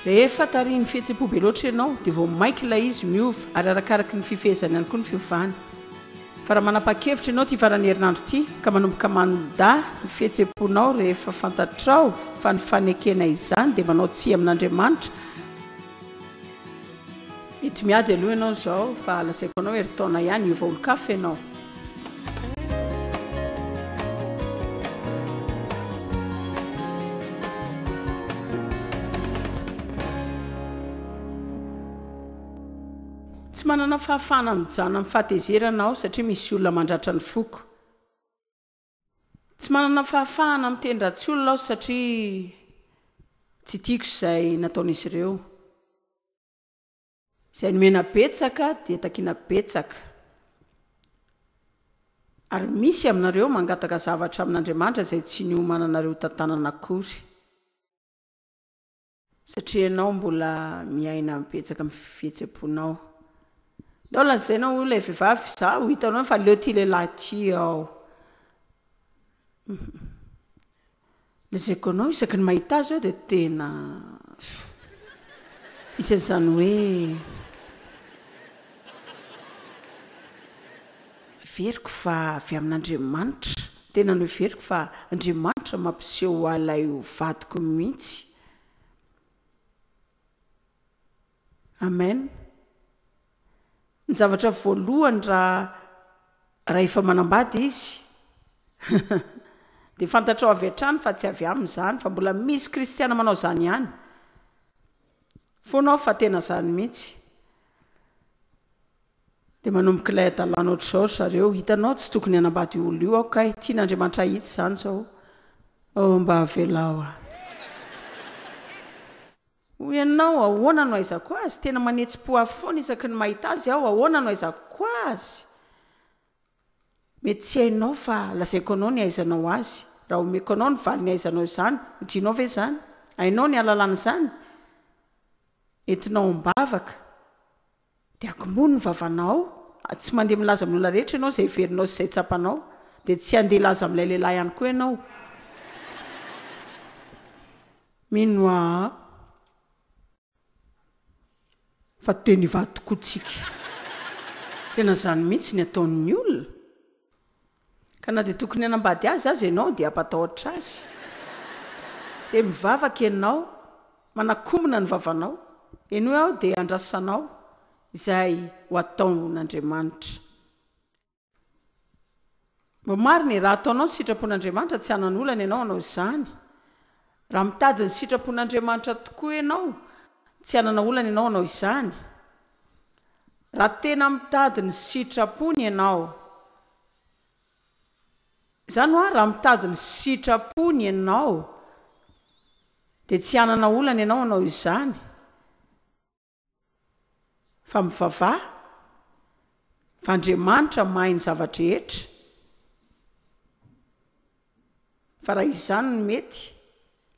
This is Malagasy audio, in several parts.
Rehefa tarihin'ny fihetsem-po be loatra ianao dia vao mainka ilay izy miova ary arakaraka ny fifehezany ihany koa ny fiovany. Fa raha manapa-kevitra ianao ity faran'ny herinandro ity ka manomboka manda ny fihetsem-ponao rehefa fantatrao fa ny fanekena izany dia manao tsia amin'Andriamanitra, Ety miady aloha ianao izao fa lazaiko anao herintaona ihany hiova olon-kafa ianao. Tsy manana fahafahana mijano amin'ny fahatezerana aho satria misy olona mandratra ny foko. Tsy manana fahafahana miteny ratsy olona aho satria tsy tiako izay nataon'izy ireo. Izay nomena betsaka dia takiana betsaka. Ary misy aminareo mangataka zavatra amin'Andriamanitra izay tsy niomananareo tantanana akory. Satria ianao mbola miaina betsaka amin'ny fihetsem-ponao. Ndao lazaina hoy ilay vehivavy, izaho ho hitanao efa leo ity lehilahy ity aho. Lazaiko anao isaky ny mahita azy aho dia tena misy an'izany hoe. Heveriko fa avy amin'Andriamanitra. Tena noheveriko fa Andriamanitra mampiseho ahy ilay ho vadiko mihitsy. Amen. Ny zavatra voalohany raha rahefa manambady izy dia fantatrao avy hatrany fa tsy avy aminy izany fa mbola misy kristiana manao izany ihany foana aho fa tena izany mihitsy. Dia manomboka ilay hadalana ohatr'izao ry zareo, hitanao tsy tokony hanambady io olona io aho kay, tian'Andriamanitra hahitsy izany izao, oh mba avelao aho. Hoy ianao, ahoana no hahaizako azy? Tena manetsi-po ahy foana isaky ny mahita azy aho, ahoana no hahaizako azy? Mety tsy hainao fa lazaiko anao ny hahaizanao azy, raha omeko anao ny valiny hahaizanao izany, ho tianao ve izany? Hainao ny hahalalana izany? Entinao am-bavaka. Dia akomono ny vavanao, tsy mandeha milaza amin'ny olona rehetra ianao izay heverinao sy izay tsapanao, dia tsy handeha hilaza amin'ilay lehilahy ihany koa ianao. Mino aho fa tena hivady tokoa tsika. Tena izany mihitsy ny ataon'ny olona. Ka na dia tokony hanambady azy aza ianao dia hampatahotra azy. Dia mivavaka ianao, manakombona ny vavanao, henoy aho dia andrasanao izay ho ataon'Andriamanitra. Mba marina e, raha ataonao ny sitrapon'Andriamanitra tsy hanana olana ianao hanao izany. Raha mitady ny sitrapon'Andriamanitra tokoa ianao, tsy hanana olana ianao hanao izany. Raha tena mitady ny sitrapony ianao, izany hoa raha mitady ny sitrapony ianao dia tsy hanana olana ianao hanao izany fa mivavaha fa Andriamanitra mahay ny zava-drehetra. Fa raha izany no mety,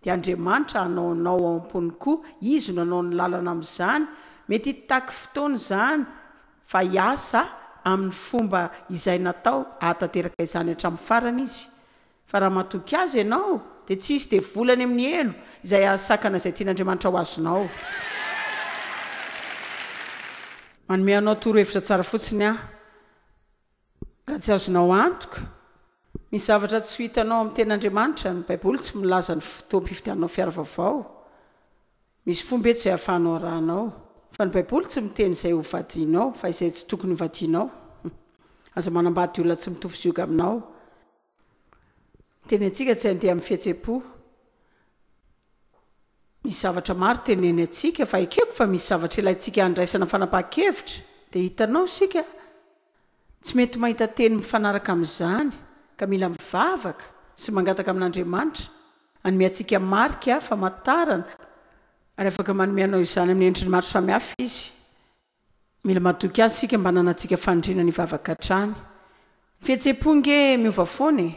dia Andriamanitra hanao anao ao am-pony koa, Izy no hanao ny lalana amin'izany. Mety hitaky fotoana izany, fa hiasa amin'ny fomba izay natao hahatanteraka izany hatramin'ny farany Izy. Fa raha matoky Azy ianao, dia tsy hisy devoly any amin'ny helo izay hahasakana izay tian'Andriamanitra ho azonao. Manome anao torohevitra tsara fotsiny aho. Raha tsy azonao antoka ny zavatra tsy ho hitanao amin'ny Teny Andriamanitra, ny Baiboly tsy milaza ny fotoam-pividiananao fiara vaovao. Misy fomba eto izay ahafahanao arahanao fa ny Baiboly tsy miteny izay hovadianao fa izay tsy tokony hovadianao. Aza manambady olona tsy mitovy zioga aminao. Teny antsika tsy handeha amin'ny fihetsem-po. Misy zavatra maro teneny antsika fa ekeko fa misy zavatra ilaintsika handraisana fanapahan-kevitra dia hitanao isika tsy mety mahita teny mifanaraka amin'izany ka mila mivavaka sy mangataka amin'Andriamanitra hanome antsika marika famantarana ary afaka manome anao izany amin'ny endriny maro samihafa Izy. Mila matoky azy isika mba ananantsika faniriana ny hivavaka hatrany. Ny fihetsem-po ange miova foana e!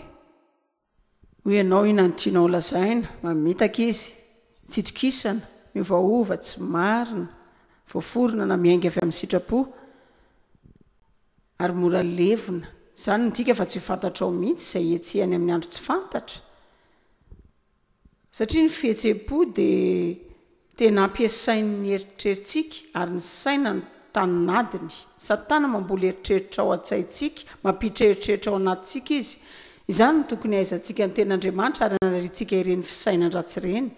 Hoy ianao, Inona no tianao holazaina? Mamitaka izy. Tsy itokisana. Miovaova. Tsy marina. Voaforona na miainga avy amin'ny sitrapo. Ary mora levona. Izany midika fa tsy ho fantatrao mihitsy izay etsy any amin'ny andro tsy fantatra. Satria ny fihetsem-po dia tena ampiasain' ny eritreritsika ary ny saina no tanin'adiny. Satana mamboly eritreritra ao an-tsaintsika, mampiditra eritreritra ao anatintsika izy. Izany no tokony hahaizantsika ny Tenin' Andriamanitra ary hanariantsika ireny fisainan-dratsy ireny.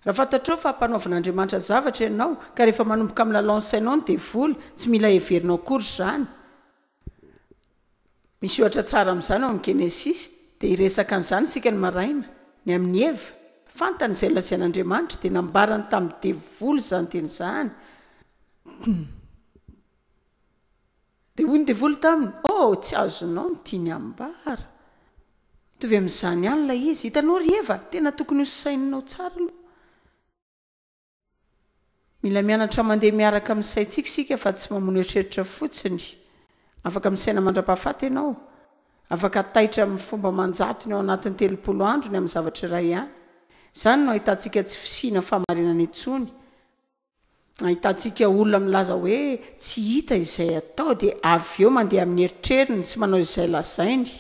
Raha fantatrao fa hampanaovan' Andriamanitra zavatra ianao ka rehefa manomboka milalao ny sainao ny devoly, tsy mila heverinao akory izany. Misy ohatra tsara amin'izany ao amin'ny Genesisy. Dia hiresaka an'izany isika ny maraina, ny amin'i Eva. Fantany izay nolazain'Andriamanitra, dia nambarany tamin'ny devoly izany teny izany. Dia hoy ny devoly taminy, Oh, tsy azonao ny tiany hambara. Mitovy amin'izany ihany ilay izy. Hitanao ry Eva, tena tokony hosaininao tsara aloha. Mila mianatra mandeha miaraka amin'ny saintsika isika fa tsy mamono eritreritra fotsiny. Afaka misaina mandra-pahafaty ianao. Afaka taitra amin'ny fomba aman-jatony ao anatin'ny telopolo andro ny amin'ny zavatra iray ihany. Izany no ahitantsika tsy fisiana fahamarinana intsony. Ahitantsika olona milaza hoe tsy hita izay atao dia avy eo mandeha amin'ny eritreriny sy manao izay lazainy.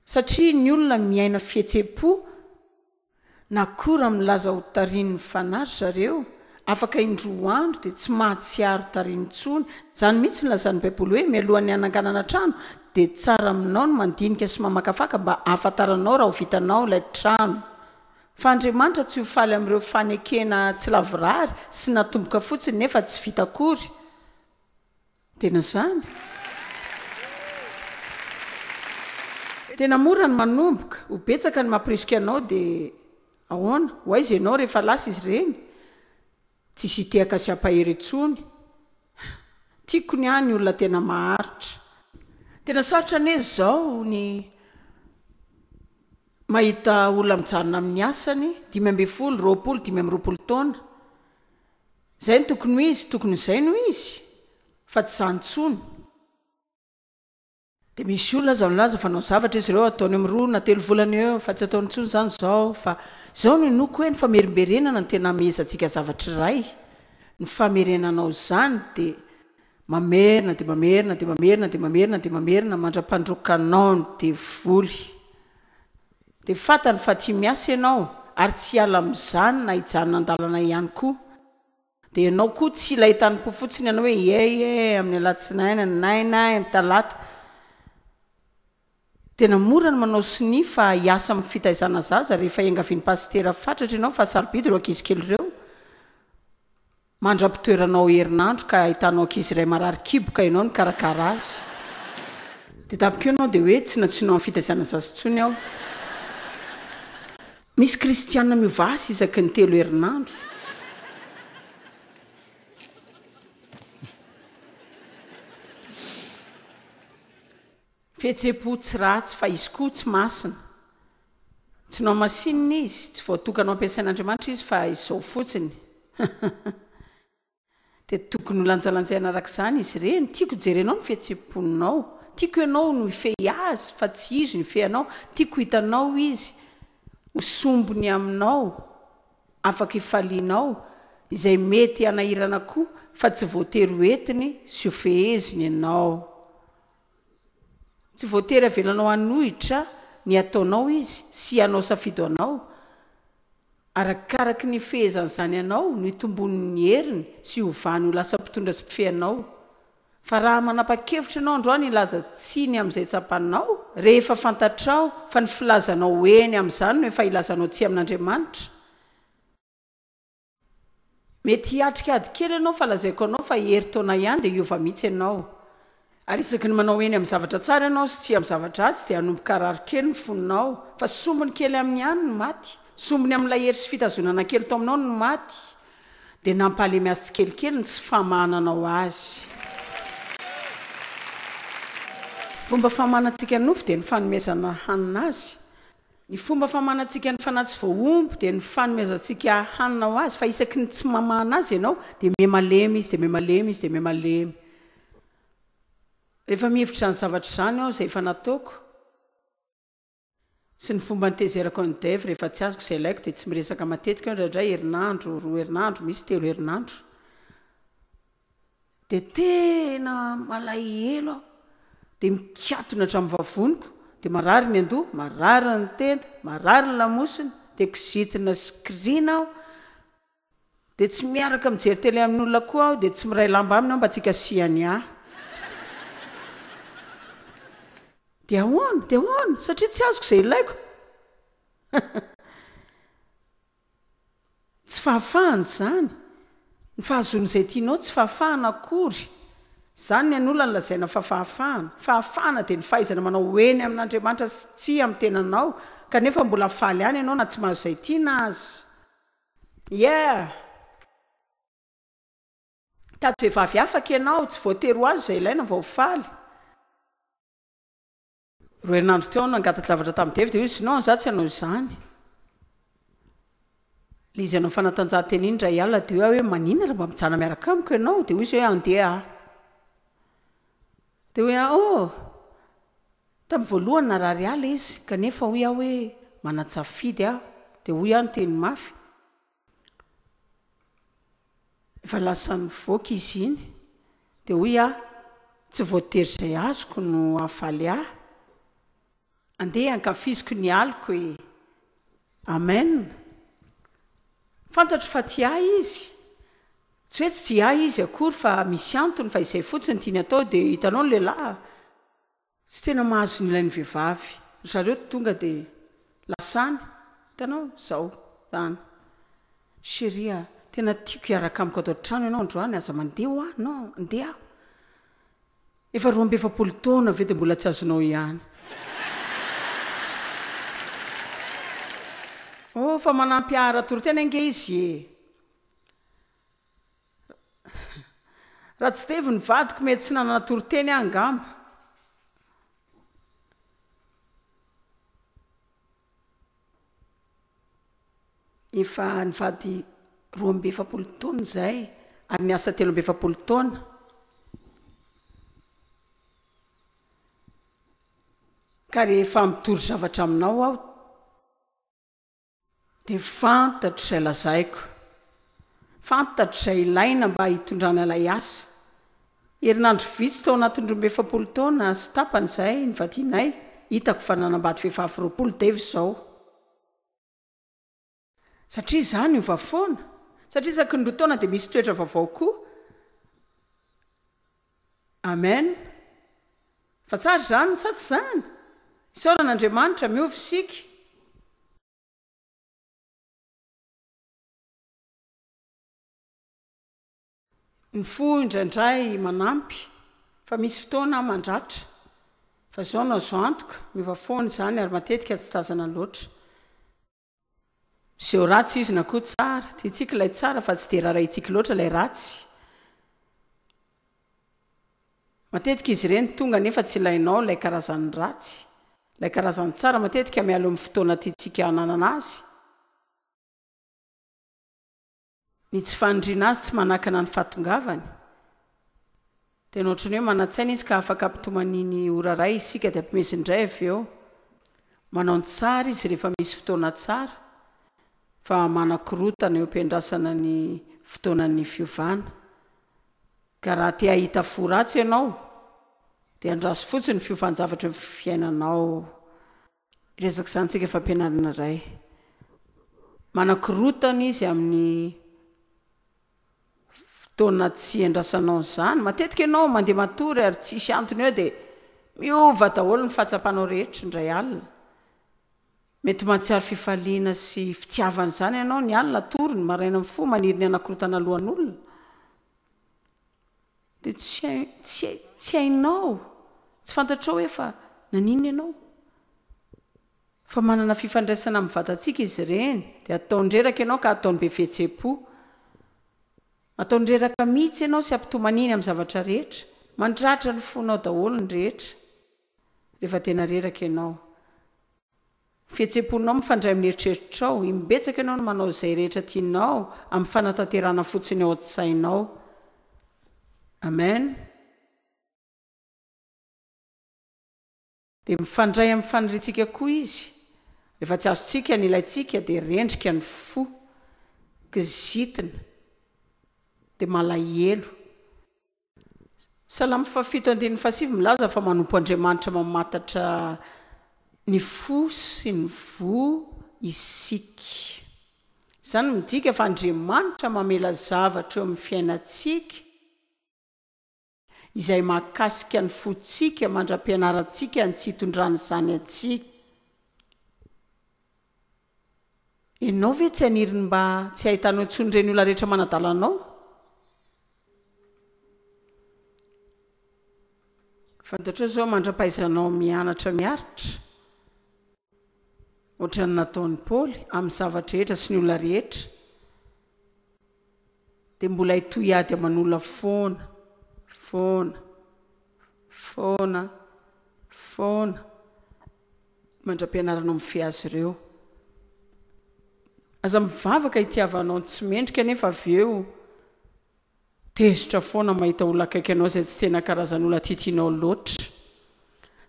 Satria ny olona miaina fihetsem-po. Na koa raha milaza ho tarin'ny fanahy ry zareo, afaka indroa andro dia tsy mahatsiaro tary intsony. Izany mihitsy no lazan'ny Baiboly hoe, Mialohan'ny hananganana trano, dia tsara aminao ny mandinika sy mamakafaka mba hahafantaranao raha ho vitanao ilay trano. Fa Andriamanitra tsy ho faly amin'ireo fanekena tsy lavorary sy natomboka fotsiny nefa tsy vita akory. Tena zany? Tena mora ny manomboka, ho betsaka ny mampirisika anao dia ahoana? Ho aiza ianao rehefa lasa izy ireny? Tsisy hitehaka sy hampahery intsony. Tiako ny ahy ny olona tena maharitra. Tena sarotra anie izao ny mahita olona mijanona amin'ny asany, dimy ambin'ny folo, roapolo, dimy amby roapolo taona. Zay no tokony ho izy, tokony izay no izy fa tsy izany intsony. Dia misy olona aza milaza fa nao zavatra izy ireo ataony amin'ny roa na telo volana eo eo fa tsy ataony intsony izany izao fa izao no inoako hoe ny famerimberenana no tena hamehezantsika zavatra iray, ny famerenanao izany dia mamerina dia mamerina dia mamerina dia mamerina dia mamerina mandra-pandroakanao ny devoly. Dia fantany fa tsy miasa ianao ary tsy hiala amin'izany na hijanona an-dalana ihany koa. Dia ianao koa tsy ilay tanim-po fotsiny ianao hoe iay e, amin'ny alatsinainy, ny naina, amin'ny talata. Tena mora ny manao sonia fa hiasa amin'ny fitaizana zaza rehefa iangavian'i pasitera fatratra ianao fa sarobidy ireo ankizy kely ireo. mandram-pitoerana ao herinandro ka ahitanao ankizy iray marary kibo ka ianao nikarakara azy dia tamin'iko ianao dia hoe tsy nantsoinao amin'ny fitaizana zaza intsony aho. Misy kristiana miova asa isaky ny telo herinandro. Fihetsem-po tsy ratsy, fa izy koa tsy masina. Tsy nohamasinina izy, tsy voatokana hampiasain'Andriamanitra izy, fa izao fotsiny. Dia tokony holanjalanjaina araka izany izy ireny. Tiako hijery anao ny fihetsem-ponao. Tiako ianao no hifehy azy, fa tsy izy no hifehy anao. Tiako hitanao izy ho sombiny aminao, afaka hifalianao, izay mety hanahirana koa, fa tsy voatery ho entiny sy hofeheziny ianao. Tsy voatery avelanao hanohitra ny ataonao izy sy hanao safidy ho anao. Arakaraky ny fehezan'izany anao no hitomboany ny heriny sy hiovany ho lasa mpitondra sy mpifehy anao. Fa raha manapa-kevitra ianao androany hilaza tsia ny amin'izay tsapanao, rehefa fantatrao fa ny filazanao eny amin'izany no efa ilazanao tsia amin'Andriamanitra, Mety hiatrika ady kely ianao fa lazaiko anao fa herintaona ihany dia hiova mihitsy ianao. Ary isaky ny manao eny amin'ny zavatra tsara ianao sy tsia amin'ny zavatra ratsy dia hanomboka harary kely ny fonao. Fa sombiny kely aminy ihany ny maty, sombiny amin'ilay hery sy fitazonana kely tao aminao ny maty. Dia nampahalemy azy tsikelikely ny tsy famahananao azy. Fomba famahanantsika ny nofo dia ny fanomezana hanina azy. Ny fomba famanantsika ny Fanahy tsy voahombo dia ny fanomezantsika hanina ho Azy, fa isaky ny tsy mamana Azy ianao dia miha-malemy Izy, dia miha-malemy Izy, dia miha-malemy. Rehefa mihevitra izany zavatra izany aho, izay efa nataoko, sy ny fomba nitezerako an'i Dave rehefa tsy azoko izay ilaiko, dia tsy miresaka matetika aho indraindray, herinandro, roa herinandro, misy telo herinandro. dia tena malahelo aho, dia mikatona hatramin'ny vavoniko, dia marary ny an-doha, marary ny tenda, marary ny lamosina, dia kizitina sy kiriana aho, dia tsy miaraka mijery télé amin'olona koa aho, dia tsy miray lamba aminy aho mba tsy hikasihany ahy. Dia ahoana? Dia ahoana? Satria tsy azoko izay ilaiko? Tsy fahafahana izany, ny fahazoana izay tianao tsy fahafahana akory, izany ny an'olona no lazaina fa fahafahana, fahafahana dia ny fahaizana manao eny amin'Andriamanitra sy tsia amin'ny tenanao kanefa mbola faly ihany ianao na tsy mahazo izay tiana aza. Yeah! Mitady vehivavy afaka ianao, tsy voatery ho azo izay ilaina vao ho faly. Roa herinandro teo aho nangata-javatra tamin'i Dave dia hoy izy, Non, izaho tsy hanao izany. Ilay izy hanao fanatanjahantena iny indray alina dia hoy aho hoe, Maninona raha mba mijanona miaraka amiko ianao? Dia hoy izy hoe, Handeha aho. Dia hoy aho, Oh! Tamin'ny voalohany narary ahy ilay izy, kanefa hoy aho hoe, Manan-tsafidy aho. Dia hoy aho niteny mafy. Efa lasa nivoaka izy iny, dia hoy aho, tsy voatery izay azoko no hahafaly ahy. Andeha hankafiziko ny aliko e! Amen! Fantatro fa tia ahy Izy. Tsy hoe tsy tia ahy Izy akory fa misy antony, fa izay fotsiny ny tiany atao, dia hitanao ny lehilahy, Tsy tena mahazo ny ilainy vehivavy ry zareo tonga de lasany hitanao zao zany cherie a tena tiako hiaraka amiko ato an-trano ianao androany aza mandeha hoa non ndeha aho efa roa amby efapolo taona ve de mbola tsy azonao ihany oh fa manampy ahy ara-toriteny ange izy e. Ratsidevo ny vadiko mety tsy nanana toriteny aho angamba. Efa nivady roa amby efapolo taona izahay ary niasa telo amby efapolo taona. Ka rehefa mitory zavatra aminao aho, Dia fantatro izay lazaiko. Fantatro izay ilaina mba hitondrana ilay asa. Herinandro vitsy tao anatin'ny roa amby efapolo taona sy tapany izay nivadianay, hitako fa nanambady vehivavy roapolo Dave izao. Satria izaho niova foana. Satria isaky ny roa taona dia misy toetra vaovao koa. Amen Fa tsara izany sa tsy izany? Isaorana Andriamanitra, miova isika. Ny fo indraindray manampy fa misy fotoana mandratra. Fa izao no azo antoka, miova foana izany ary matetika tsy tazana loatra. Miseho ratsy izy na koa tsara. Tiantsika ilay tsara fa tsy dia rarahintsika loatra ilay ratsy. Matetika izy ireny tonga nefa tsy ilainao ilay karazan'ny ratsy. Ilay karazan'ny tsara matetika mialoha amin'ny fotoana tiantsika hananana azy. Ny tsy faniriana azy tsy manakana ny fahatongavany, dia nohatra ny hoe manan-tsaina izy ka afaka ampitomania ny ora iray isika dia ampimeziny indray avy eo. Manao ny tsara izy rehefa misy fotoana tsara, fa manakorotana eo am-piandrasana ny fotoanan'ny fiovana. Ka raha te hahita fo ratsy ianao, dia andraso fotsiny ny fiovan-javatra eo amin'ny fiainanao. Resaka izany tsika fampianarana iray. Manakorontana izy amin'ny fotoana tsy iandrasanao izany. Matetika ianao mandeha matory ary tsisy antony eo dia miova daholo ny fahatsapanao rehetra indray alina. Mety mahatsiaro fifaliana sy fitiavana izany ianao ny alina atory, ny maraina mifoha maniry ny hanakorontana lohan'olona. Dia tsy hay, tsy hay, tsy hainao, tsy fantatrao hoe fa naninona ianao? Fa manana fifandraisana amin'ny vatantsika izy ireny, dia ataony reraka ianao ka ataony be fihetsem-po. Ataony reraka mihitsy ianao sy ampitomaniny amin'ny zavatra rehetra. Mandratra ny fonao daholo ny rehetra rehefa tena reraka ianao. Fihetsem-ponao mifandray amin'ny eritreritrao. Imbetsaka ianao no manao izay rehetra tianao amin'ny fanatanterahana fotsiny ao an-tsainao. Amen. Dia mifandray amin'ny faniriantsika koa Izy. Rehefa tsy azontsika ny ilaintsika, dia rendrika ny fo, kizitina, dia malahelo. Salamo fahafito andininy fahasivy milaza fa manompo Andriamanitra mamantatra ny fo sy ny voa isika. Izany midika fa Andriamanitra mamela zavatra eo amin'ny fiainantsika izay mahakasika ny fontsika mandra-pianarantsika ny tsy hitondrany izany antsika. Ianao ve tsy haniry ny mba tsy hahitanao intsony ireny olona rehetra manadala anao? Fantatrao izao mandra-pahaizanao mianatra miaritra, hoatran'ny nataon'i Paoly, amin'ny zava-drehetra sy ny olona rehetra. Dia mbola hitohy ady aman'olona foana, foana, foana, foana mandra-pianarana mifehy azy ireo. Aza mivavaka hitiavanao ny tsy mendrika nefa avy eo tezitra foana mahita olona akaiky anao izay tsy tena karazan'olona titinao loatra.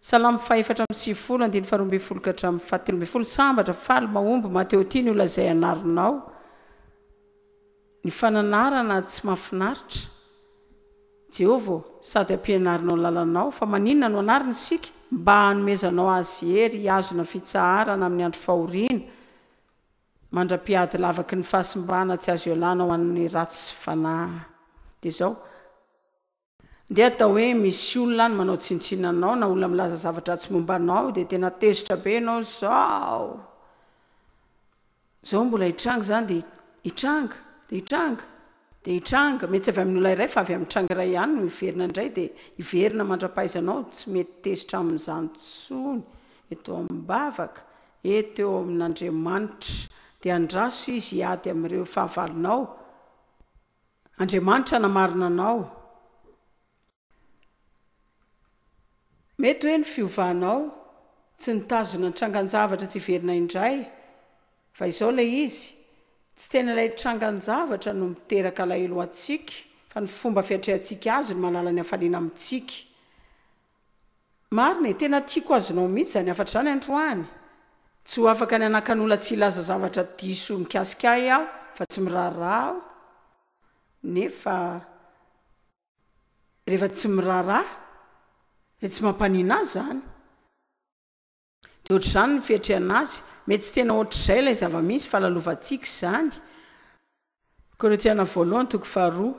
Salamo fahefatra amby sivifolo, andininy faharoa ambin'ny folo ka hatramin'ny fahatelo ambin'ny folo, Sambatra, faly, mahomby, maty eo, tiany ho lazay anaronao ny fananarana tsy mahafinaritra, Jehovah ô, sady hampianarinao ny lalanao, fa maninona no anarina isika? mba hanomezanao azy hery hihazona fitsaharana amin'ny andro fahoriana, mandra-pihady lavaky ny fahasimbana tsy azo ialana ho an'ny ratsy fanahy. Dia izao. Ndeha atao hoe misy olona any manao tsinontsinona anao na olona milaza zava-dratsy momba anao dia tena tezitra be ianao zao zao mbola hitranga izany dia hitranga dia hitranga dia hitranga mety tsy avy amin'olona iray fa avy amin'ny tranga iray ihany no hiverina indray dia hiverina mandra-pahaizanao tsy mety tezitra amin'izany tsony eto am-bavaka eto eo amin'Andriamanitra dia andraso izy hiady amin'ireo fahavalonao Andriamanitra namarina anao. Mety hoe ny fiovanao tsy nitazona ny trangan-javatra tsy hiverina indray, fa izao ilay izy, tsy tena ilay trangan-javatra no miteraka alahelo ho antsika, fa ny fomba fiatrehantsika azy no mahalala ny hafaliana amintsika. Marina e, tena tiako azonao mihitsy izany hafatra izany androany. Tsy ho afaka ny hanakan'ola tsy hilaza zavatra diso mikasika ahy aho fa tsy miraharaha aho nefa rehefa tsy miraharaha dia tsy mampanina ahy izany. Dia ohatr'izany ny fiatrehana azy. Mety tsy tena ohatr'izay ilay zava-misy fa lalovantsika izany. Korintiana voalohany toko faharoa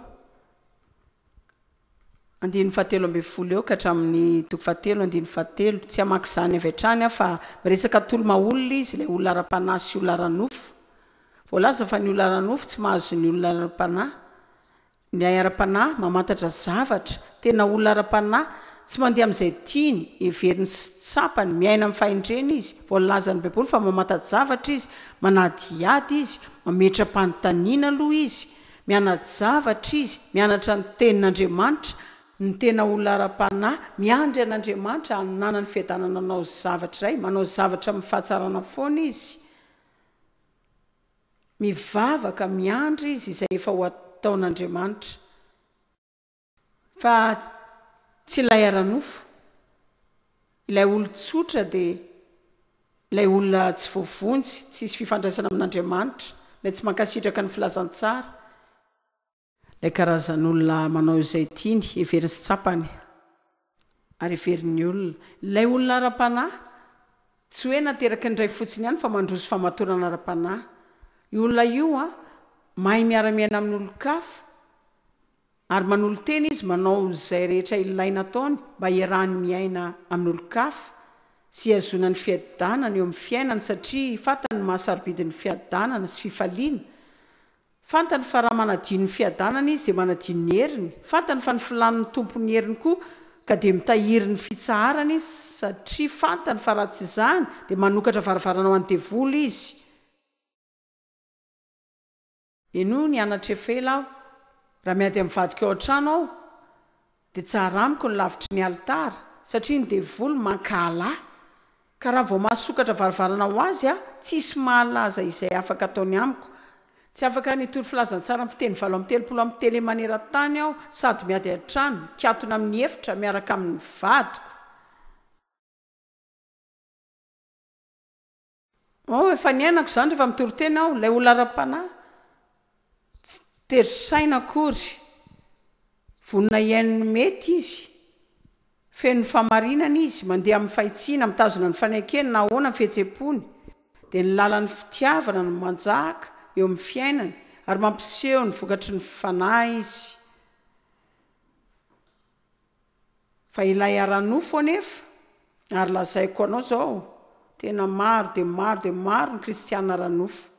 andininy fahatelo ambin'ny folo eo ka hatramin'ny toko fahatelo andininy fahatelo. Tsy hamaky izany avy hatrany aho fa miresaka toloma olona izy, ilay olona ara-panahy sy olona ara-nofo. Voalaza fa ny olona ara-nofo tsy mahazo ny olona ara-panahy. Ny hay ara-panahy mamantatra zavatra, tena olona ara-panahy, tsy mandeha amin'izay tiany, heveriny sy tsapany, miaina amin'ny fahendrena izy. Voalazan'ny Baiboly fa mamanta-javatra izy, manadihady izy, mametra-panontaniana aloha izy, miana-javatra izy, mianatra ny Tenin'Andriamanitra. Ny tena olona ara-panahy miandry an'Andriamanitra hananany fiadanana hanao zavatra iray, manao zavatra amin'ny fahatsarana foana izy. Mivavaka, miandry izy izay efa ho ataon'Andriamanitra, fa tsy ilay ara-nofo. Ilay olon-tsotra dia ilay olona tsy voavonjy, tsy hisy fifandraisana amin'Andriamanitra, ilay tsy mankasitraka ny filazantsara. Ilay karazan'olona manao izay tiany, heveriny sy tsapany ary heverin'ny olona. Ilay olona ara-panahy, tsy hoe nateraky ny ray fotsiny ihany fa mandroso famatorana ara-panahy. Io olona io mahay miara-miaina amin'olon-kafa ary manolo-tena izy manao izay rehetra ilaina ataony mba hiarahany miaina amin'olon-kafa sy hihazoana ny fiadanana eo amin'ny fiainany satria fantany ny maha-sarobidy ny fiadanana sy fifaliana Fantany fa raha manadio ny fiadanany izy dia manadio ny heriny, fantany fa ny filàny no tompon'ny heriny koa ka dia mitahiry ny fitsaharany izy satria fantany fa raha tsy izany dia manokatra varavarana ho an'ny devoly izy. Henoy ny anatrefa ela aho raha miady amin'ny vadiko ao an-trano aho Dia tsara amiko ny lavitry ny alitara, satria ny devoly mankahala ahy, ka raha vao mahasokatra varavarana ho azy aho, tsy hisy mahalaza izay afaka ataony amiko. Tsy afaka ny hitory filazantsara amin'ny fiteny valo amby telopolo amin'ny tele maneran-tany aho, sady miady an-trano, mikatona amin'ny efitra, miaraka amin'ny vadiko. Oh, efa niainako izany rehefa mitoriteny aho, ilay olona ara-panahy. Tsy tery saina akory. Vonona hihaino ny mety izy. Feno fahamarinana izy, mandeha amin'ny fahitsiana, mitazona ny fanekeny na ahoana ny fihetsem-pony. Dia ny lalan'ny fitiavana no manjaka eo amin'ny fiainany, ary mampiseho ny vokatry ny Fanahy izy. Fa ilay ara-nofo anefa, ary lazaiko anao izao, tena maro dia maro dia maro ny kristiana ara-nofo.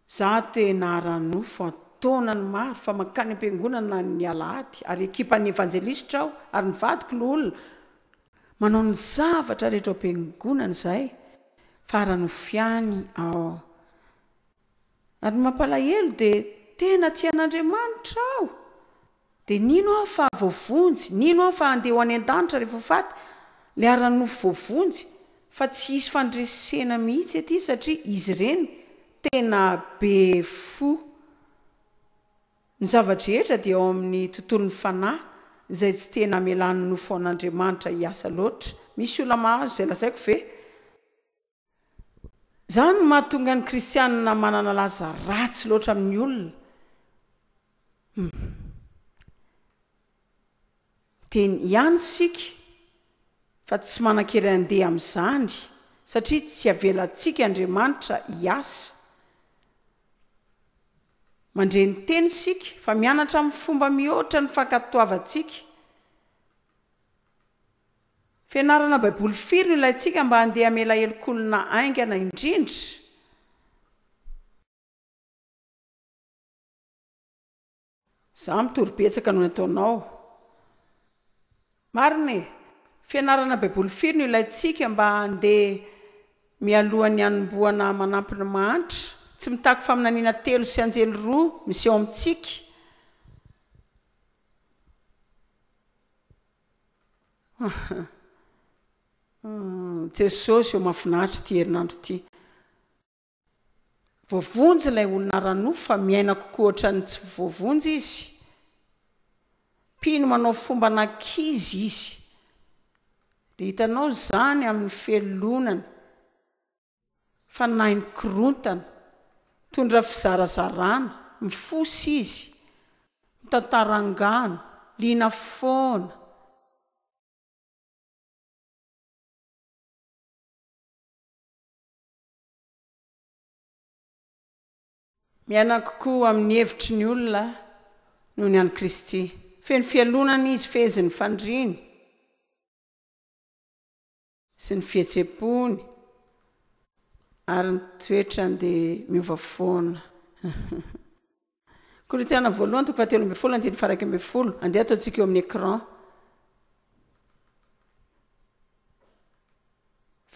Za tena ara-nofo an-taonany maro fa mankany am-piangonana ny alahady ary ekipan'ny evanjelisitra aho ary ny vadiko no olona manao ny zavatra rehetra ao am-piangonana izahay fa ara-nofo ihany aho. Ary ny mampalahelo dia tena tia an'Andriamanitra aho, dia nino aho fa voavonjy, nino aho fa handeha ho any an-danitra rehefa ho faty, ilay ara-nofo voavonjy, fa tsy hisy fandresena mihitsy aty satria izy ireny tena be fo. Ny zava-drehetra dia ao amin'ny tontolon'ny fanahy izay tsy tena hamelan'ny nofo an'Andriamanitra hiasa loatra. Misy olona mahazo izay lazaiko ve? Izany no mahatonga ny kristianina manana laza ratsy loatra amin'ny olona. Humm. Miteny ihany isika fa tsy manan-kery handeha amin'izany satria tsy havelantsika Andriamanitra hiasa. Mandre ny teny isika fa mianatra amin'ny fomba mihoatra ny fankatoavantsika. Fianarana Baiboly Firy no ilaintsika mba handeha hamela helokolona haingana indrindra? Izaho mitory betsaka noho ny ataonao. Marina e! Fianarana Baiboly firy no ilaintsika mba handeha mialohan'ny hanombohana manampy ny mahantra? Tsy mitaky faminaniana telo sy anjely roa miseho amintsika. Jesosy ô mafinaritra ity herinandro ity. Voavonjy ilay olona ara-nofo fa miaina kokoa ohatran'ny tsy voavonjy izy. Mpino manao fomban'ankizy izy. Dia hitanao izany amin'ny felonany. Fanahy mikorontana, mitondra fizarazarana, mifosa izy, mitantara angano, liana foana. Miaina kokoa amin'ny hevitry ny olona noho ny an'i Kristy. Feno fialonana izy, fehezin'ny fandriany. sy ny fihetsem-pony ary ny toetrany dia miova foana. Korintiana voalohany toko fahatelo ambin'ny folo andininy faharaika ambin'ny folo. Andeha ataontsika eo amin'ny écran.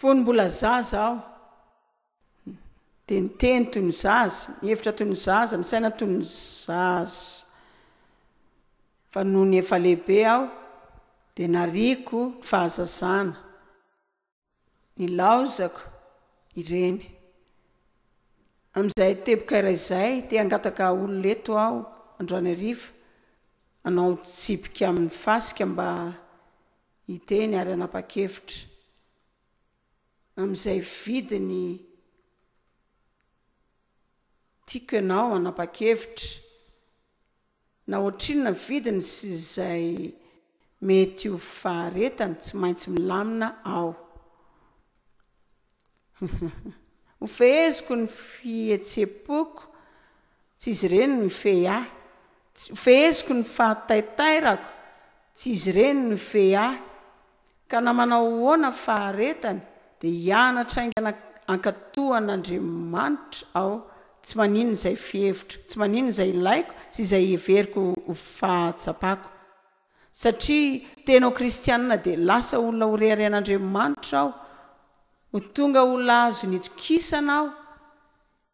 Fony mbola zaza aho, Dia ny teny toy ny zaza, ny hevitra toy ny zaza, ny saina toy ny zaza. Fa nony efa lehibe aho dia nariako ny fahazazana, nilaozako ireny. Amin'izay teboka iray izay, te hangataka olona eto aho androany hariva hanao tsipika amin'ny fasika mba hiteny ary hanapa-kevitra. amin'izay vidiny tiako ianao hanapa-kevitra na ohatrinona ny vidiny sy izay mety ho faharetany, tsy maintsy milamina aho. Hofeheziko ny fihetsem-poko, tsy izy ireny no hifehy ahy, hofeheziko ny fahataitairako, tsy izy ireny no hifehy ahy, Ka na manao ahoana ny faharetany dia hianatra haingana hankatoan' Andriamanitra aho, tsy maninona izay fihevitro, tsy maninona izay ilaiko sy izay heveriko ho fahatsapako. Satria tena ho kristianina dia lasa olona horeharehan' Andriamanitra aho, ho tonga olona azony itokisana aho,